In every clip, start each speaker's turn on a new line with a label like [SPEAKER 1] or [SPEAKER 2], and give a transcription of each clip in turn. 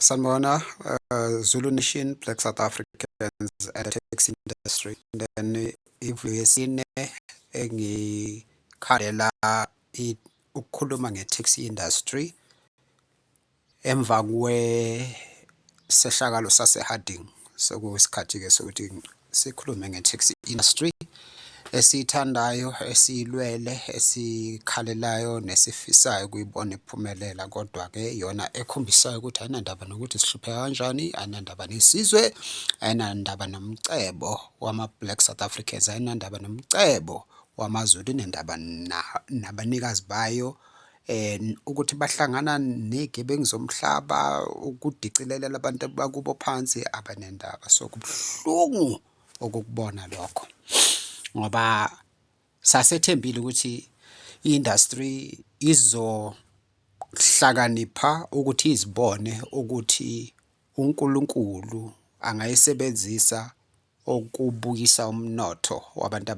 [SPEAKER 1] Sanibona uh, Zulu Nation Black South Africans and the taxi industry then ivulo yesine engikhalela ukukhuluma nge-taxi industry emva kwesehlakalo sase-Harding sekuyisikhathi-ke sokuthi sikhulume nge-taxi industry esiyithandayo esiyilwele esikhalelayo nesifisayo ukuyibona iphumelela kodwa ke yona ekhombisayo ukuthi ayinandaba nokuthi sihlupheka kanjani ayinandaba nesizwe ayinandaba nomcebo wama-black south africans ayinandaba nomcebo wamazulu inendaba nabanikazi bayo eh ukuthi bahlangana negebengu zomhlaba ukudicilelela abantu bakubo phansi abanendaba so kubuhlungu okukubona lokho ngoba sasethembile ukuthi i-industry izohlakanipha ukuthi izibone ukuthi uNkulunkulu angayisebenzisa okubuyisa umnotho wabantu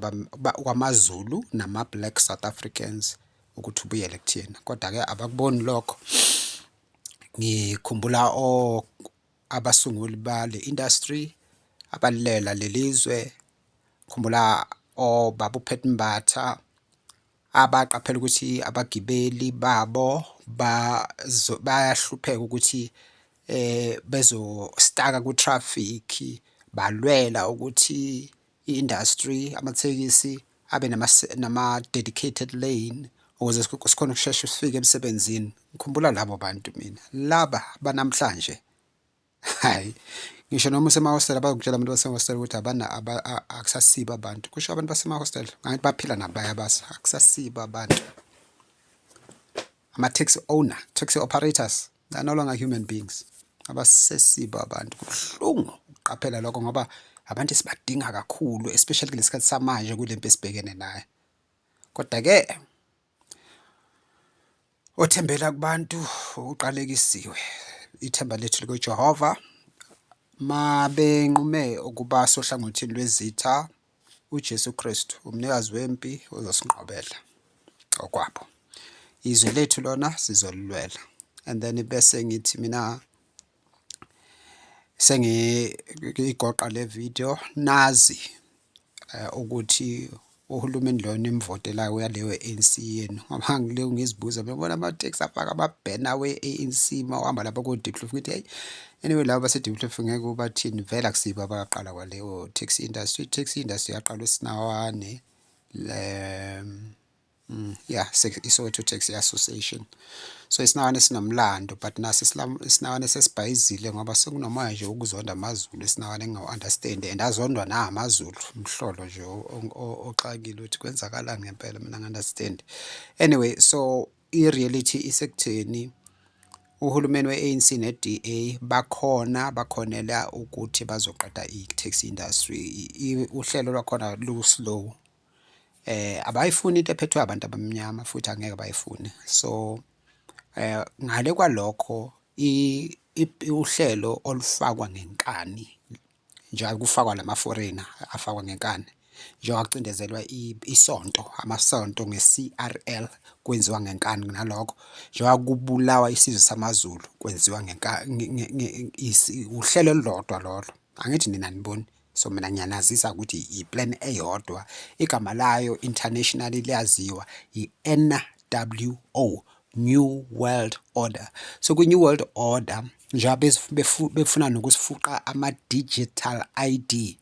[SPEAKER 1] kwamaZulu nama-black South Africans ukuthi ubuyele kuthina kodwa-ke abakuboni lokho ngikhumbula abasunguli bale industry abalela lelizwe khumbula obaba uPhetmbatha abaqaphela ukuthi abagibeli babo bayahlupheka ukuthi eh bezostaka ku traffic balwela ukuthi i-industry amathekisi abe nama nama dedicated lane ukuze sikhona ukusheshe sifike emsebenzini ngikhumbula labo bantu mina laba banamhlanje Hayi. Ngisho noma usemahostela abazokutshela abantu basemahostela ukuthi abana akusasiba abantu. Kusho abantu basemahostela ngathi baphila nabaya basa akusasiba abantu. Ama taxi owner, taxi operators, they're no longer human beings. Abasesiba abantu. Kubuhlungu ukuqaphela lokho ngoba abantu esibadinga kakhulu especially kulesikhathi samanje kulempi esibhekene nayo. Kodwa ke Othembela kubantu uqalekisiwe. Ithemba lethu likoJehova mabenqume ukuba sohlangothini lwezitha uJesu Kristu umnikazi wempi uzosinqobela okwabo. Izwe lethu lona sizolilwela and then bese ngithi mina sengiyigoqa le video nazi eh, ukuthi uhulumeni lo nimvotelayo uyaleyo ANC yenu ngoba ngileyo ngizibuza bebona ama tax afaka ama banner we ANC mawuhamba lapha ku Diplomf ngithi hey anyway laba base Diplomf ngeke ubathini vela kusiba abaqala kwaleyo tax industry tax industry yaqalwa sinawane le Mm, yeah, iSoweto Taxi Association. So isinawane sinomlando but nasi isinawane sesibhayizile ngoba sekunomoya nje ukuzonda amaZulu isinawane engawu-understand and azondwa na amaZulu mhlolo nje oxakile ukuthi kwenzakalani ngempela mina ngi-understand. Anyway, so i-reality isekutheni uhulumeni we-ANC ne-DA bakhona bakhonela ukuthi bazoqeda i-taxi industry. Uhlelo lwakhona lu-slow. eh abayifuni into ephethwe abantu abamnyama futhi angeke bayifune so eh ngale kwalokho uhlelo olufakwa ngenkani njengoba kufakwa lama foreigner afakwa ngenkani njengoba kucindezelwa isonto amasonto nge-CRL kwenziwa ngenkani nalokho njengoba kubulawa isizwe samaZulu kwenziwa ngenkani uhlelo olulodwa lolo angithi nina niboni so mina ngiyanazisa ukuthi iplan eyodwa igama layo internationally liyaziwa i-NWO New World Order so kwi-New World Order njengoba befuna nokusifuqa ama-digital ID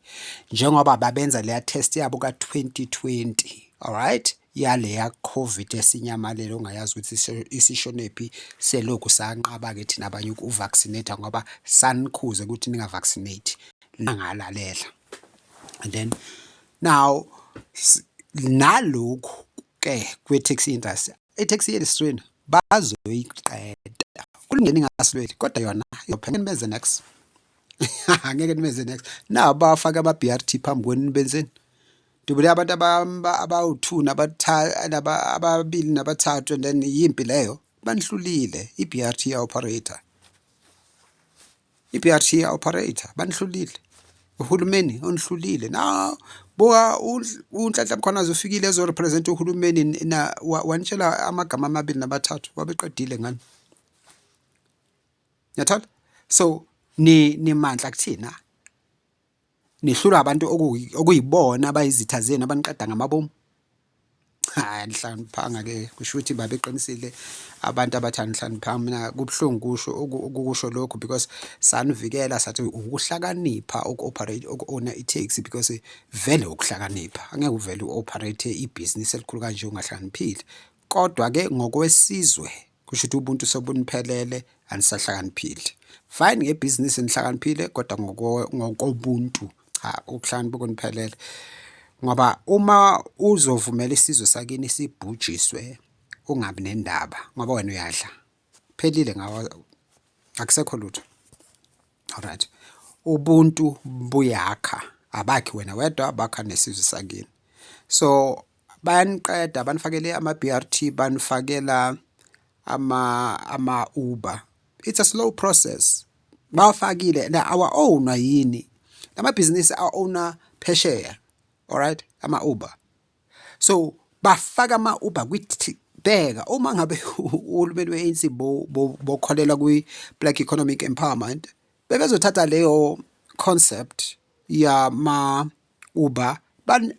[SPEAKER 1] njengoba babenza leya test yabo ka-2020 alright yaleya covid esinyamalele ongayazi ukuthi isishonephi selokhu sanqaba-ke thina abanye uku-vaccinate ngoba sanikhuze ukuthi ninga-vaccinate nangalalela and then now nalokhu ke kwe-taxi industry i-taxi industry bazoyiqeda kulungeni ingasilweli kodwa yona izophela nibenze next angeke nibenze next na bafake ama-brt phambi kwenu nibenzeni ndibule abantu abawu-two ababili nabathathu and then yimpi leyo banihlulile i-brt ya-operator I-PRT ya operator banihlulile. Uhulumeni onihlulile. Na buka unhlanhla mkhwanazi ufikile ezo represent uhulumeni na wanitshela amagama amabili nabathathu wabeqedile ngani. Niyathola? So ni nimandla kuthina. Nihlulwa abantu okuyibona abayizitha zenu abaniqeda ngamabomu. Hayi nihlaniphanga ke kusho ukuthi baba eqinisile abantu abathi anihlaniphanga mina kubuhlungu kusho ukusho lokho because sanivikela sathi ukuhlakanipha uku-operate uku-owna i-taxi because vele ukuhlakanipha angeke uvele u-operate ibhizinisi elikhulu kanje ungahlaniphile Kodwa-ke ngokwesizwe kusho ukuthi ubuntu sobuniphelele anisahlakaniphile. Fine ngebhizinisi nihlakaniphile kodwa ngokobuntu cha ukuhlakanipha kuniphelele. Ngoba uma uzovumela isizwe sakini sibhujiswe ungabi nendaba ngoba wena uyadla. Phelile ngawo akusekho lutho. Alright. Ubuntu buyakha abakhi wena wedwa bakha nesizwe sakini. So bayaniqeda banifakele ama-brt banifakela ama-uber ama it's a slow process bawafakile na awa-ownwa yini lamabhizinisi a-owna phesheya alright ama-uber so bafaka ama-uber kwithi bheka uma ngabe uhulumeni we-anc bokholelwa kwi-black economic empowerment bebezothatha leyo concept yama uba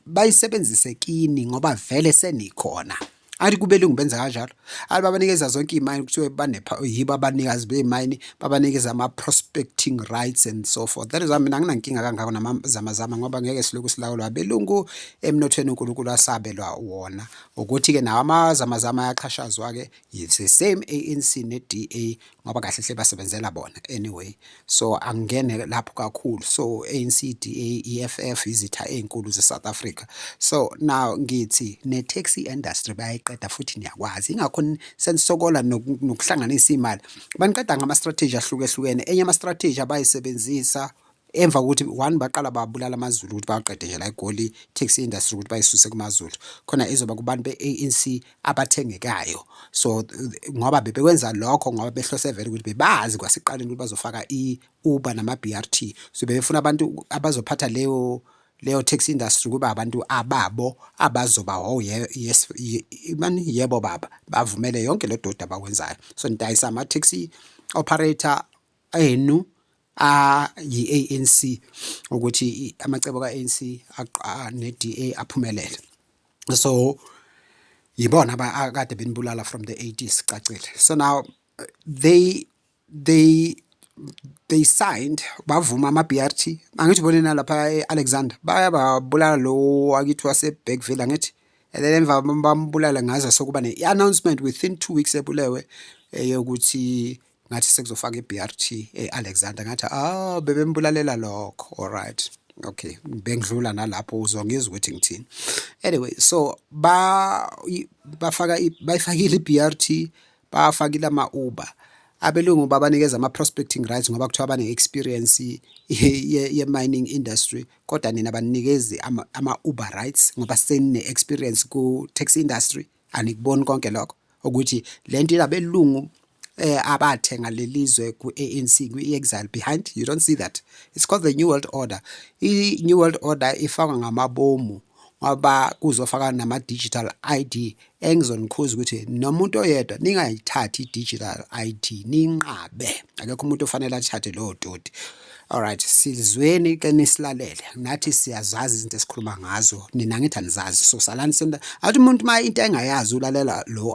[SPEAKER 1] bayisebenzise kini ngoba vele senikhona athi kube lungu benza kanjalo athi babanikeza zonke iy'mayini kuthiwe banepha yibo abanikazi bey'mayini babanikeza ama-prospecting rights and so forth that is why mina anginankinga kangako namazamazama ngoba ngeke silokhu silawulwa abelungu emnothweni unkulunkulu asabelwa wona ukuthi-ke nawo amazamazama ayaqhashazwa-ke it's the same ANC ne-DA ngoba kahle hle basebenzela bona anyway so angingene lapho kakhulu so ANC DA EFF izitha ezinkulu ze-South Africa so now ngithi ne-taxi industry bayayiqeda futhi niyakwazi ingakho senisokola nokuhlanganisa imali baniqeda ngama-strategy ahlukehlukene enye ama-strategy abayisebenzisa emva kokuthi one baqala babulala amazulu ukuthi baqede nje la egoli taxi industry ukuthi bayisuse kumazulu khona izoba kubantu be-ANC abathengekayo so ngoba bebekwenza lokho ngoba behlose vele ukuthi bebazi kwasiqaleni ukuthi bazofaka i-uber nama-brt so bebefuna abantu abazophatha leyo leyo tax industry kuba abantu ababo abazoba ho oh, yes mani yebo baba bavumele yonke le dodi abakwenzayo so nidayisa ama-taxi operator enu ayi-ANC ukuthi amacebo ka-ANC ne-DA aphumelele so yibona akade benibulala from the 80s cacile so now they they they signed bavuma ama-BRT angithi ubone nalapha e-Alexander bayababulala lo akithi wase-Bergville angithi and then emva bambulala ngaze sokuba ne-announcement within two weeks ebulewe eyokuthi ngathi sekuzofaka iBRT eAlexander ngathi ah bebembulalela lokho alright okay bengidlula nalapho uzongizwa ukuthi ngithini anyway so ba bafaka bayifakile iBRT bafakile ama Uber abelungu babanikeza ama prospecting rights ngoba kuthiwa bane experience ye mining industry kodwa nina banikezi ama Uber rights ngoba senine experience ku taxi industry anikuboni konke lokho ukuthi lento ilabelungu eh abathenga lelizwe kuANC kuExile behind you don't see that it's called the new world order i new world order ifakwa ngamabomu ngoba kuzofaka nama digital ID engizonikhuza ukuthi nomuntu oyedwa ningayithathi digital ID ninqabe akekho umuntu ofanele athathe lo doti Alright, silizweni iqine silalele. Nathi siyazazi izinto esikhuluma ngazo. Nina ngithi anizazi. So salani senta. Athi umuntu uma into engayazi ulalela lo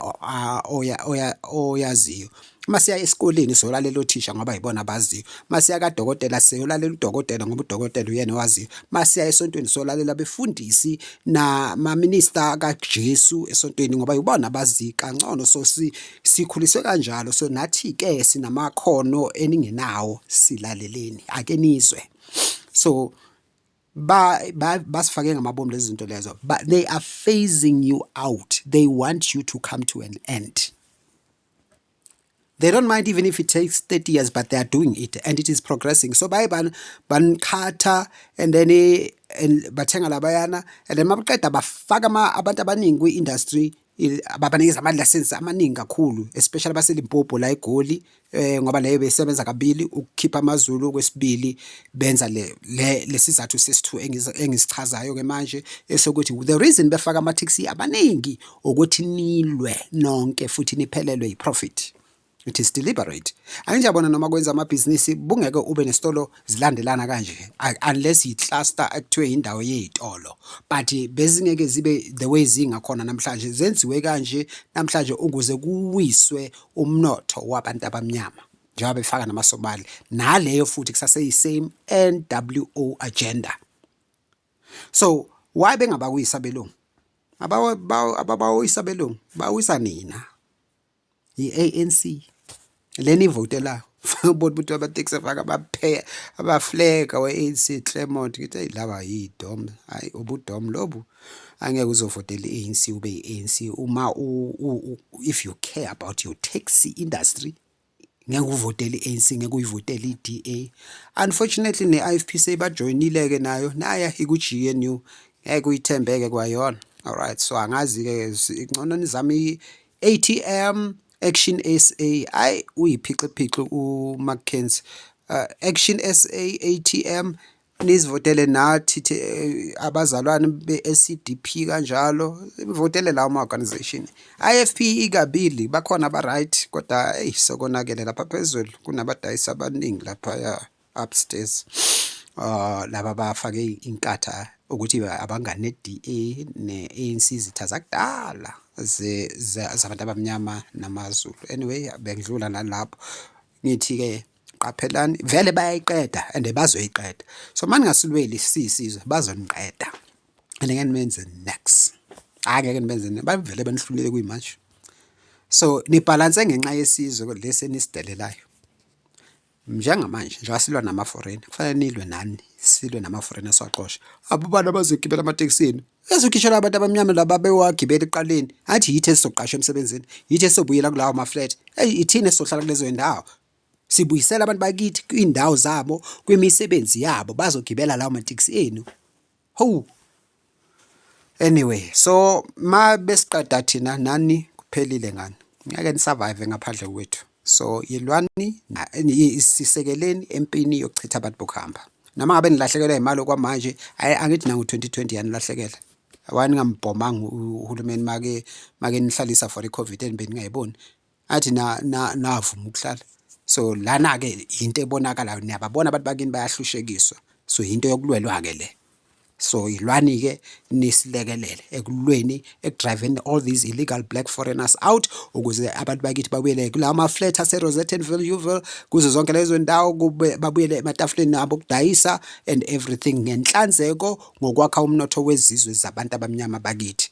[SPEAKER 1] oya oya oyaziyo. Uma siya esikoleni solalela othisha ngoba yibona abaziyo. Uma siya kadokotela siyolalela udokotela ngoba udokotela uyena owaziyo. Uma siya esontweni solalela befundisi na maminista kaJesu esontweni ngoba yibona abazi kangcono so si Sikhuliswe kanjalo so nathi ke sinamakhono eningenawo silaleleni ake nizwe. So ba basifake ngamabomu lezi zinto lezo but they are phasing you out they want you to come to an end they don't mind even if it takes 30 years but they are doing it and it is progressing so baye banikhatha and then eh, bathenga labayana and then mabaqeda bafaka abantu abaningi kwi-industry babanikeza ama-license amaningi kakhulu especially abaselimpopo la egoli eh ngoba leyo besebenza kabili ukukhipha amazulu kwesibili benza le lesizathu sesithu engisichazayo ke manje esokuthi the reason befaka ama taxi abaningi ukuthi nilwe nonke futhi niphelelwe yiprofit it is deliberate anginjabona noma kwenza amabhizinisi bungeke ube nesitolo zilandelana kanje unless yi-cluster ekuthiwe yindawo yey'tolo but bezingeke zibe the way zingakhona namhlanje zenziwe kanje namhlanje ukuze kuwiswe umnotho wabantu abamnyama njengoba befaka namasobali naleyo futhi kusaseyisame nwo agenda so why bengabawisa belungu abawisa belungu bawisa nina yi-anc lena ivotelayo ubona ukuthi abateksi afaka abapheya abafleka we-anc clemont ngithi eyi laba yidom hhayi ubudom lobu angeke uzovotela i-anc ube yi-anc uma if you care about your taxi industry ngeke uvotele i-ANC ngeke uyivotele i-DA unfortunately ne-IFP seyibajoyinile-ke nayo naya iku-GNU ngeke uyithembeke kwayona alright so angazi-ke ngcono nizame ATM Action SA ayi uyiphixiphixi uMcKenzie uh, Action SA ATM nizivotele nathi eh, abazalwane be-SCDP kanjalo votele lawo ma-organization IFP ikabili bakhona aba-right kodwa eyi sokonakele lapha phezulu kunabadayisi abaningi laphaya upstairs uh, laba bafake inkatha ukuthi abangani ne-DA ne-ANC izitha zakudala zabantu abamnyama namaZulu anyway bengidlula nalapho ngithi-ke qaphelani vele bayayiqeda and bazoyiqeda so uma ningasilweli siyisizwe bazoniqeda and ngeke nimenze nex hhayi ngeke nibenze bavele benihlulele kuyimanje so nibhalanse ngenxa yesizwe lesi enisidelelayo Njengamanje njengoba silwa namaforeni kufanele nilwe nani silwe namaforeni esiwaxosha. Abobani abazogibela amatekisini? Ezogishela abantu abamnyama laba bewagibela ekuqaleni. Athi yithi esizoqashwa emsebenzini, yithi esobuyela kulawo ma-flat. Eyi ithini esizohlala kulezo ndawo. Sibuyisela abantu bakithi kwiindawo zabo, kwimisebenzi yabo, bazogibela lawo matekisi enu. Ho. Anyway, so ma besiqeda thina nani kuphelile ngani. Ngeke ni survive ngaphandle kwethu. So yilwani isisekeleni empini yokuchitha abantu bokuhamba. Noma ngabe nilahlekelwa imali okwamanje, angithi nangu 2020 yanilahlekela. Awani ngambhomanga uhulumeni make make nihlalisa for iCovid and beningayiboni. athi navuma ukuhlala so lana-ke yinto ebonakalayo niyababona abantu bakini bayahlushekiswa so yinto yokulwelwa-ke le so yilwani-ke nisilekelele ekulweni ekudriveni all these illegal black foreigners out ukuze abantu bakithi babuyele kulawo maflat aserosettenville uville kuzo zonke lezo ndawo babuyele ematafuleni abo okudayisa and everything ngenhlanzeko ngokwakha umnotho wezizwe zabantu abamnyama bakithi